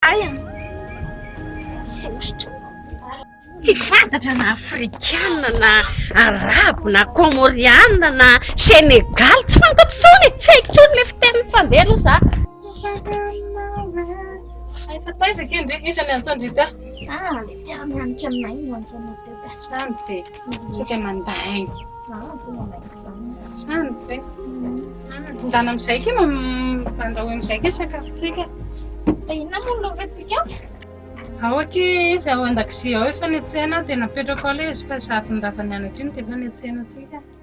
Aina! Sosotra! Tsy fantatra na afrikana na arabo na kômôriana na senegaly, tsy fantatro intsony e, tsy haiko intsony ilay fiteniny fa ndeha aloha za. Efa taiza kay ndry isan'ny antsan-dry ka? Ah, mpiara-mianatra aminay no antsan-dry ka. Antsan-dry. Isika mandainga. Samy zay. Mandana amin'izay ke mandao amin'izay ke sakafontsika. Fa inona moa no lovatsika? Ao aky izy ao an-dakozia ao efa netsena dia napetrako ao ilay izy fa zavony ravany anatra iny dia efa netsena antsika.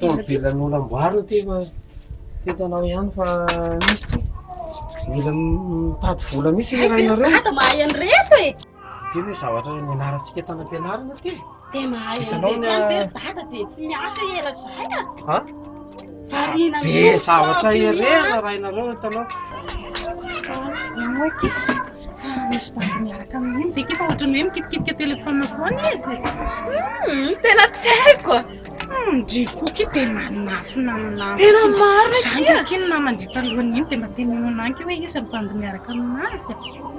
Tomobilan'olam-boarina ty fa teto anao ihany fa misy ty. Mila mitady vola mihitsy ny rainareo. Dia mahay an'ireto e! Ity anie zavatra nianarantsika tany am-pianarana ity. Dia mahay an'ireny ihany ve ry dada dia tsy miasa ela izay a? Ha? Variana Be mihitsy ny zavatra tampony, a. herena raha ianareo hitanao. Namoaka e. Fa misy bandy miaraka amin'iny ve ke fa ohatran'ny hoe mikitikitika telefaonina foana izy? Hmm, tena tsy haiko. Hmm, ndry koky dia manafina ny namany. Tena marina Izany akia. ve akia ny namany ndry talohan'iny dia mba tenenina akia hoe iza ny bandy miaraka aminazy?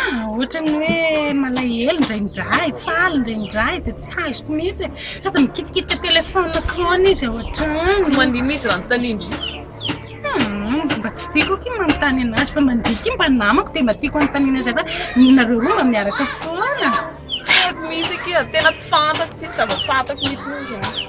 Ah, ohatran'ny hoe malahelo indraindray, faly indraindray dia tsy azoko mihitsy e. Sady mikitikitika telefaonina foana izy ohatrany. Manino izy raha manontania indry? Hmm, mba tsy tiako aky manontany anazy fa mandriky mba namako dia mba tiako anontaniana izay fa nareo roa mba miaraka foana. Tsy haiko mihitsy aky, tena tsy fantako, tsisy zava-pantako mihitsy.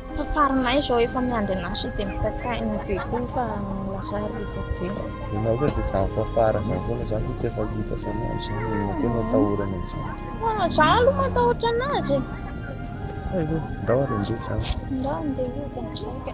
Fa farinay izao efa miandry an'asa dia mitaka aina be koa fa lasa rivo be. Ianao ve dia zany fa fara zany foana zany fa tsy efa hita zany any zany e, ianao koa no atahorany am'zany. Ah, za aloha matahotra anazy e. Hay ve, ndao ary andeha zany. Ndao andeha io dia misaika.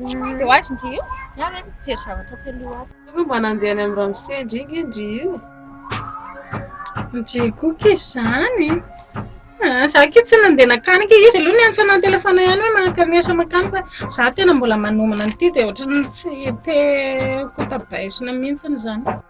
Dia ho azy ndry io? Ianao ve mijery zavatra aty aloha ato? Ianao ve mba nandeha any amin'ny ramose ndry nge ndry io e? Ndry koa ke izany e! Ah, za ke tsy nandeha nakany ke izy aloha niantsa ana an-telefaona ihany hoe manakary ny asa makany fa za tena mbola manomana an'ity dia ohatran'ny tsy te ho tabaisina mihitsy izany.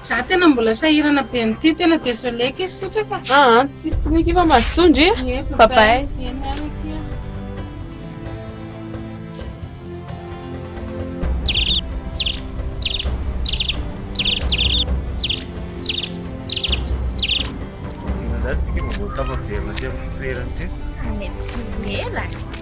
Za tena mbola sahirana be an'ity, tena désolé ky sitraka. Ah, ah tsisy tsiniky fa mazotondry. Ie, bye bye. Tsika mbola tafaverina aty amin'ny toerana aty. Mety tsy ho ela.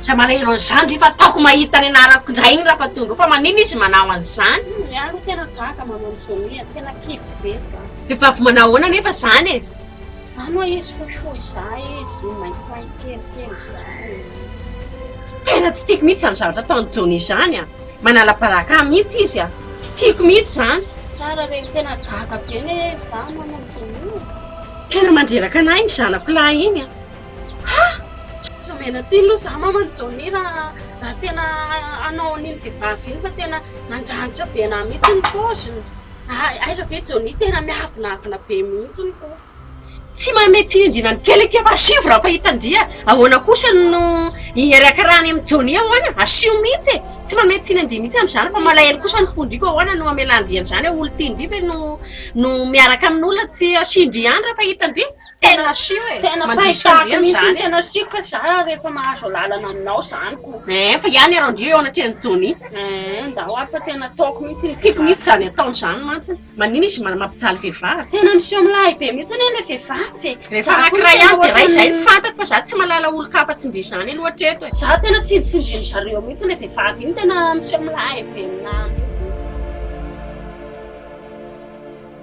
Tsy malahelo an'izany ve fa ataoko mahita ny anarako indray iny Rafatondro fa maninona izy manao an'izany? Ny ahy aloha tena gaga manao an'i Johnny a, tena kivy be za. Vehivavy manao ahoana anefa izany e? Any ho'a izy fohifohy za izy, maintimainty kelikely za e. Tena tsy tiako mihitsy izany zavatra ataon'i Johnny izany a! Manala baraka ahy mihitsy izy a! Tsy tiako mihitsy izany. Tsara re, tena gaga be anie za manao an'i Johnny e! Tena mandreraka an'ahy iny zanako lahy iny a! Aza mianatsiny aloha za maman'i Johnny raha raha tena hanao an'iny vehivavy iny fa tena mandranitra be anah mihitsy ny paoziny. Hay, aiza ve Johnny tena miavonavona be mihitsy ny hoho. Tsy manome tsindriana ny kely ake fa asio vy raha efa hita dia ahoana kosa no hiarakarany amin'i Johnny ahoana? Asio mihitsy e! Tsy manome tsiny an-dry mihitsy amin'izany fa malahelo kosa ny fon-dry koa ahoana no hamelan-dry an'izany? Olon-tian-dry ve no no miaraka amin'olona tsy asian-dry ihany raha efa hitan-dry? Tena asiko e! Tena pahitako mihitsy ny tena asiko fa za rehefa mahazo alalana aminao zany ko. Eeh fa iany ary ndio eo anatrehan'i Johnny. Eeh ndao ary fa tena ataoko mihitsy iny. Tsy tiako mihitsy zany ataony zany mantsy. Manina izy mampijaly vehivavy. Tena miseho milahy be mihitsy anie ilay vehivavy e. Rehefa anankiray ihany dia iray izay no fantako fa za tsy mahalala olon-kafa tsindrizany aloha hatreto e. Za tena tsy tsindrin-dry zareo mihitsy ilay vehivavy iny tena miseho milahy be aminahy mihitsy.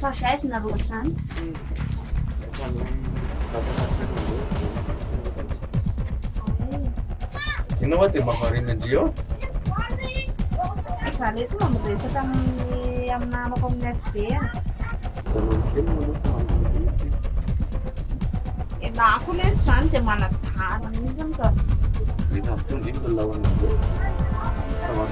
Fa avy aiza nareo izany? Ianao hoa dia mba variana ndry eo? Za letsy mba miresaka amin'ny amin'ny namako amin'ny FB a. Mijanona kely ianao fa mandeha ity. Ianao koa lesy izany dia manadala mihitsy ka. Rehefa avy teo ndry ny lalaonareo.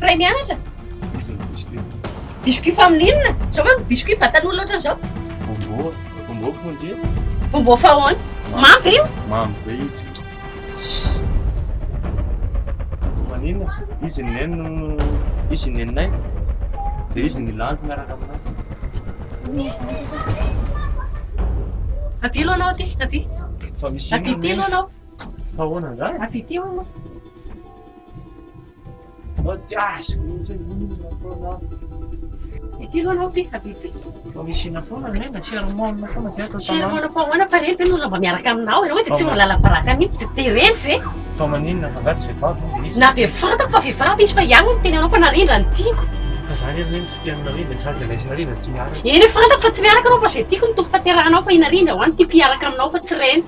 Ray mianatra? Iza ny biscuit? Biscuit familiana? Zao manko biscuit vatan'olona ohatran'izao. Bombo, bombo pondia. Bombo fahoana? Mamy ve io? Mamy be io tsy. Maninona? Izy ny neny no izy ny neninay. Dia izy ny landy miaraka aminay. Avia aloha anao aty, avia. Fa misy inona? Avia aty aloha anao. Fahoana angaha? Avia aty aloha anao. Mba tsy azoko mihitsy hoe inona foana an. Ity aloha anao ity ady ity. Mba misiana foana ny ahy na sermon-na foana ve atao tanana. Sermon-na fa ahoana fa ireny ve no olona mba miaraka aminao ianao hoe dia tsy mba lala-baraka mihitsy tsy dia ireny ve? Fa maninona fa angaha tsy vehivavy hono ilay izy. Na dia fantako fa vehivavy izy fa iany hono miteny anao fa narindra no tiako. Ka za anie ry neny tsy tia an'i narindra e sady ilay izy narindra tsy miaraka. Eny fantako fa tsy miaraka ianao fa izay tiako no tokony tanterahanao fa i narindra ho'a no tiako hiaraka aminao fa tsy ireny.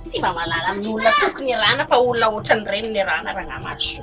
Tsy mba mahalala ny olona toky ny rana fa olona ohatran'ny reny ny rana ranamaso.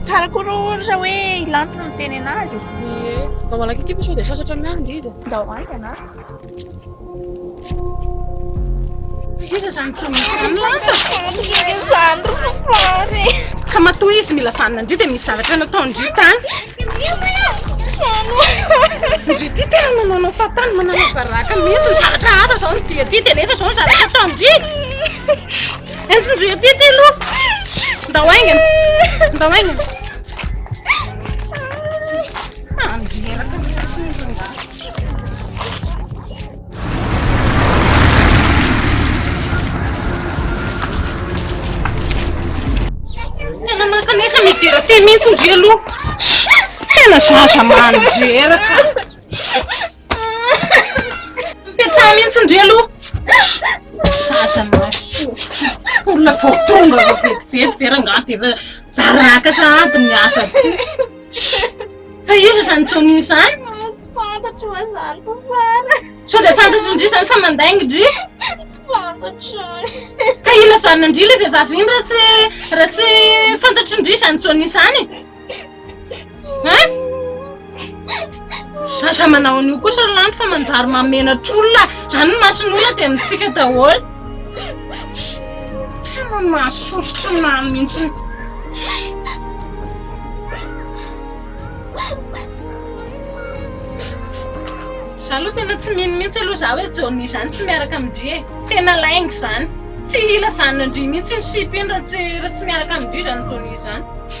Tsara koa rô ohatra hoe ilanto no miteny anazy. Ie, mba malaky kipa sao dia sasatra miahy ny didy. Ndao haingana. Iza izany tsy misy izany lanta? Izany ry fafary. Ka matoa izy mila vanona ndry dia misy zavatra natao ndry tany. Ndry ty tena manaonao fahatany manana baraka mihitsy ny zavatra hafa izao ny dia ty dia nefa izao ny zavatra atao ndry. Entindry aty aty aloha. Ndao aingana. Ndao aingana. Andreraka ny Tena mankanesa midera te mihitsy ndry aloha. Tena zaza mandreraka. Mipetraha mihitsy ndry aloha. Aza mahasoa. Olona vao tonga vao vetivety ve rangaha dia efa baraka sahady ny asa ty. Fa iza izany Tony izany? Tsy fantatro mazany fa fara. Sao dia fantatry ndry izany fa mandainga ndry? Tsy fantatro. Ka ila vanona ndry ilay vehivavy iny raha tsy raha tsy fantatry ndry izany Tony izany? Zaza manao an'io kosa ry lanto fa manjary mamenatra olona zany ny mason'olona dia mitsika daholo tena mahasoritry ny maro mihitsy za aloha tena tsy mino mihitsy aloha za hoe jaonina izany tsy miaraka amin-dry e tena lainga izany tsy hila vanona an-dry mihitsy ny sipa iny raha tsy raha tsy miaraka amin-dry izany jaonina izany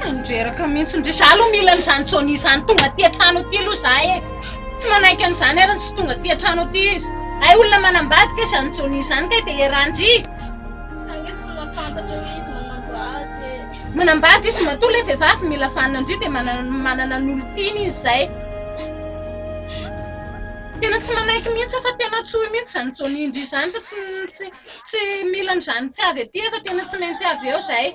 Mandreraka mihitsy ndry. Za aloha mila an'izany Johnny izany tonga aty an-trano aty aloha za e. Tsy manaiky an'izany ary tsy tonga aty an-trano aty izy. Hay olona manambady kay izany Johnny izany kay dia iarahan-dry. Manambady izy matoa ilay vehivavy mila vanona ndry dia manana ny olon-tiany izy izay. Tena tsy manaiky mihitsy fa tena tsy hoy mihitsy izany Johnny ndry izany fa tsy tsy mila an'izany tsy avy aty fa tena tsy maintsy avy eo izay.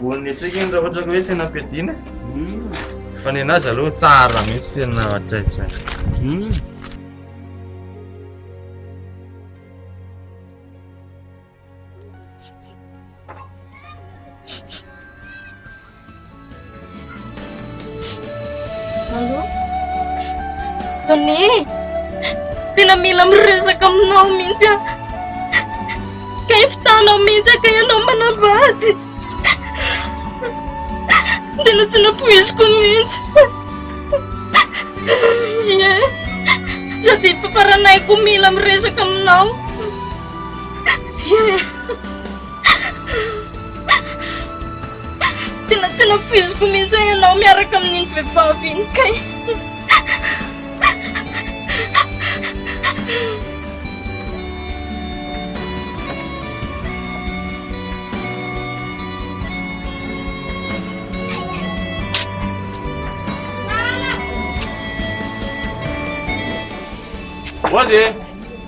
Voan'ny antsika iny raha ohatra ka hoe tena ampiadiana. Hmm. Fa ny anazy aloha tsara mihitsy tena hatsaitsay. Hmm. Allô? Johnny! Tena mila miresaka aminao mihitsy aho. Ka ifitanao mihitsy ka ianao manavady. Tena tsy nampoiziko mihitsy. Ie. Sady faranayko mila miresaka aminao. Ie. Tena tsy nampoiziko mihitsy hoe ianao miaraka amin'iny vehivavy iny kay. Mody e!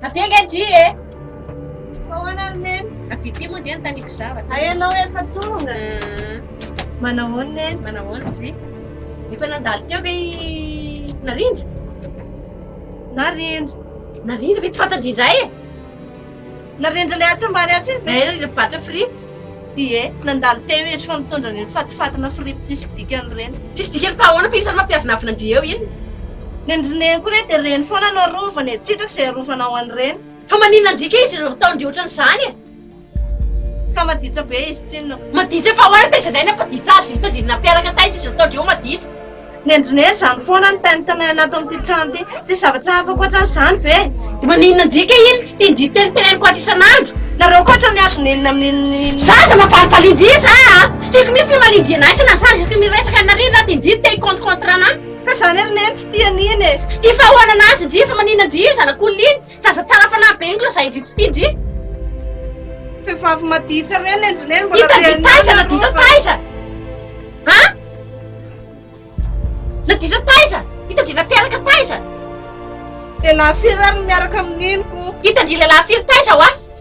Tadinga ndry e! Fa hoana ry neny? Avy ity moa dia nitaniako zavatra. Hay ianao efa tonga. Ah. Manahoana neny? Manahoana ndry? Efa nandalo teo ve i Narindra? Narindra? Narindra ve tsy fantatry indray e? Narendra ilay atsy ambany atsy iny ve? Narendra ilay mpivarotra fripp? Ie, nandalo teo izy fa mitondra an'ireo fatifatina fripp tsisy dikany ireny. Tsisy dikany fa ahoana fa isan'ny maha mpiavinavinan'i Dieu iny? Ny an'i Rineny koa re dia reny foana no arovany e, tsy hitako izay arovanao an'ireny. Fa maninona ndrika izy ireo ataony ohatran'izany e? Ka maditra be izy tsinona. Maditra fa ahoana taiza indray ny hampaditra azy izy tadidy nampiaraka taiza izy nataondry eo maditra. Ny Engineer izany foana no tanitanay anato amin'ity trano ity. Tsisy zavatra hafa ankoatran'ny izany ve? Maninona ndrika iny fiteny teniteneniko ato isan'andro? Nareo koa otrany azo nenina amin'iny. Za aza mavalivalidia za a! Tsy tiako mihintsy ny malindia anay sy na za ndry miresaka an'i Nariana ato indry te hi-compte contre anay. Ka zany ary neny tsy tia an'iny e! Tsy tia fahaoanana azy ndry fa maninona ndry io zanak'olona iny? Zaza tsara fanahy be iny lazain-dry ity ty ndry. Vehivavy maditsa re nendrineny mbola Hita dia taiza na disa taiza. Ha? Na disa taiza? Hita dry nateraka taiza? Lehilahy firy ary miaraka amin'iny ko? Hita dry lehilahy firy taiza wa?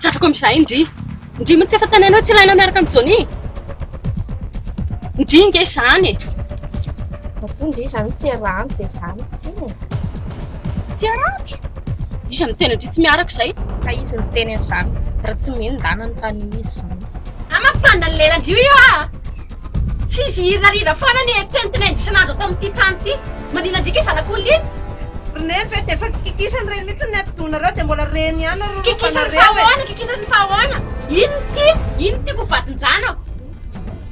Trafiko amin'izay ndry. Ndry moa tsy efa tanainao tsy ilaina miaraka amin'i Johnny? Ndry nge izany e. Matoa ndry izany tsy iarahany dia izany ity e. Tsy iarahany? Iza no miteny ndry tsy miaraka izay? Ka izy niteny an'izany raha tsy mino ndana ny tany izy izany. Ahy mampitandrina ny lelan-drio io aho a! Tsy izy hirariva foana anie teny tena indrisana azy ato amin'ity trano ity. Maninona antsika io zanak'olona iny? Ry Nef e, dia efa kikisany ireny mihitsy ny atidohanareo dia mbola reny ihany ary rorofanareo e! Kikisany fa ahoana? Kikisany fa ahoana? Iny no tiany, iny no tiako ho vadin-janako.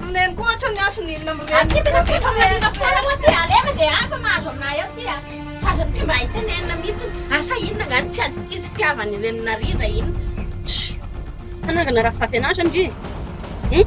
Ry Neny koa ohatra ny hasiny inona amin'ny reniny? Aty tena tsy famarina foana hoa ty, aleo dia any fa mahazo aminay ao ty a! Sazany tsy mba hay tenenina mihitsy, asa inona angaha ny tsy ady tia tsy tiavan'ny reniny narindra iny? Tch! Fanangana Rafivafianaratra ndry e! Hum!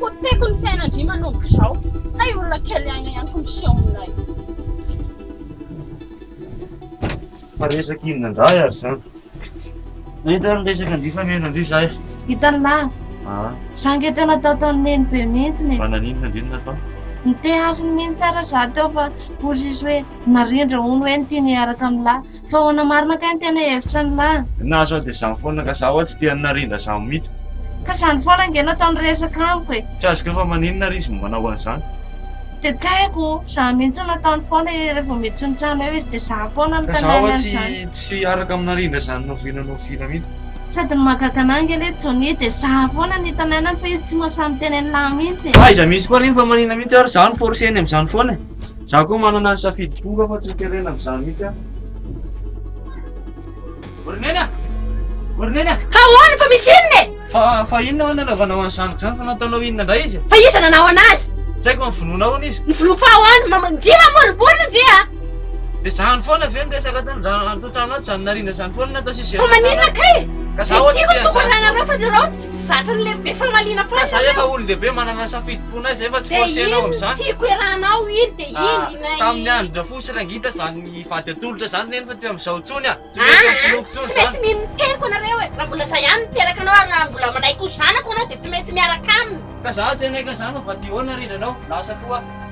Poteko ny fiainan-dry manomboka izao. Hay olona kely aina ihany tsy miseho aminay. Fa resaka inona indray ary izany? Nahita ny resakan-dry fa mihaino an-dry izahay. Hitan'i Lala. Ah. Izaho ange teo natao taon'i Nenibe mihitsy e. Fa naninona indray no natao? Niteny hafiny mihitsy aza izaho teo fa hoy sisa hoe narindra hono hoe ny tiany hiaraka amin'i Lala. Fa ahoana marina kay ny tena hevitra ny lahy? Na zao dia zany foana ka za hoa tsy tian'ny narindra zany mitsy. Ka zany foana ange no ataony resaka amiko e. Tsy azoko eo fa maninona ary izy no manao an'izany. Dia tsy haiko, zany mitsy no ataony foana e, revo miditry ny trano eo izy dia za foana no tanany an'izany. Ka za hoa tsy tsy hiaraka amin'ny narindra zany na oviana na oviana mitsy. Sady ny mahagaga anahy ange le Johnny dia za foana no hitanainany fa izy tsy mahasahy miteny ny lahy mitsy e. Fa aiza mitsy koa ary iny fa maninona mitsy ary za no forceny amin'izany foana e. Za koa manana ny safidy tonga fa tsy terena amizany mihitsy aho. Ornena! Ornena! Fa ahoana fa misy inona e? Fa fa inona hono nanaovanao an'i zanako zany fa nataonao inona indray izy? Fa iza nanao anazy? Tsy haiko ny vonoana hono izy. Ny vonoako fa ahoana? Mama njia mamoriborina njia. Dia zany foana ve ny resaka tany raha antotanao zany narina zany foana natao sisy. Fa maninona kay? Ka za hoatsy tian'izany. Tsy tiako tokony anareo fa nareo Zatra le be famaliana fa za efa olondehibe manana safidim-pona ahy zay fa tsy forcena ao amizany de iny tiako iarahanao iny de iny iny ah, tamin'ny andron-dRafo sy Rangita zany vady atolotra zany neny fa tsy amizao intsony ah, tsy mety amin'ny finoko intsony zany, tsy maintsy mino ny teniko anareo e, raha mbola za ihany niteraka anao ary raha mbola manaiky ho zanako anao de tsy maintsy miaraka aminy. Ka za tsy hanaiky anzany fa vadihoana ry ranao, lasa koa.